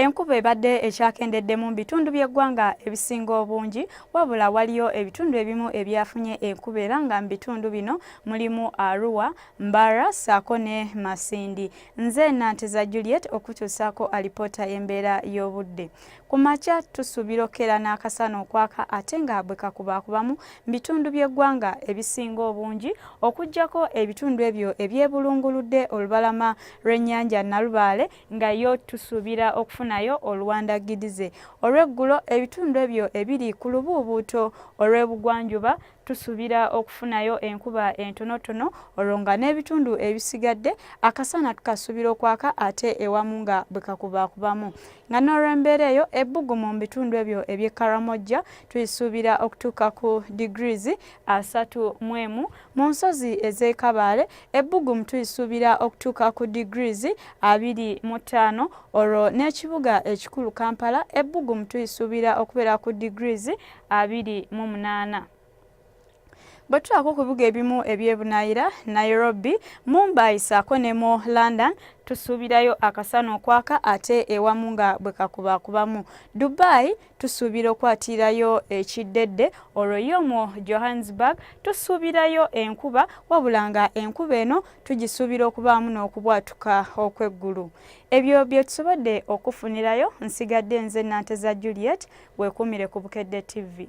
Enkuba ebadde ekyakendeddemu mu bitundu by'eggwanga ebisinga obungi wabula waliyo ebitundu ebimu ebyafunye enkuba era nga mu bitundu bino mulimu Arua, Mbara ssaako ne Masindi. Nze Nanteza Juliet okutuusaako alipoota y'embeera y'obudde. Ku makya tusuubira okukeera n'akasana okwaka ate nga bwe kakubaakubamu mu bitundu by'eggwanga ebisinga obungi okuggyako ebitundu ebyo ebyebulunguludde olubalama lw'ennyanja Nalubaale nga yo tusuubira okufunayo oluwandagidize olw'eggulo ebitundu ebyo ebiri ku lubuubuuto olw'ebugwanjuba tusuubira okufunayo enkuba entonotono olwo nga n'ebitundu ebisigadde akasana tukasuubira okwaka ate ewamu nga bwe kakubakubamu nga n'olw'embeera eyo ebbugumu mu bitundu ebyo eby'e karamojja tuyisuubira okutuuka ku degrees asatu mu emu mu nsozi ez'e Kabaale ebbugumu tulisuubira okutuuka ku degrees abiri mu ttaano olwo n'ekibuga ekikulu Kampala ebbugumu tulisuubira okubeera ku degrees abiri mu munaana. bwe tulaako ku bibuga ebimu ebyebunaayira nairobi mumbai saako ne mu london tusuubirayo akasana okwaka ate ewamu nga bwe kakubakubamu dubai tusuubira okwatirayo ekiddedde olwo ye omwo johannesburg tusuubirayo enkuba wabula nga enkuba eno tugisuubira okubaamu n'okubwatuka okw'eggulu ebyo bye tusobodde okufunirayo nsigadde nze nanteza juliet weekuumire ku bukedde tv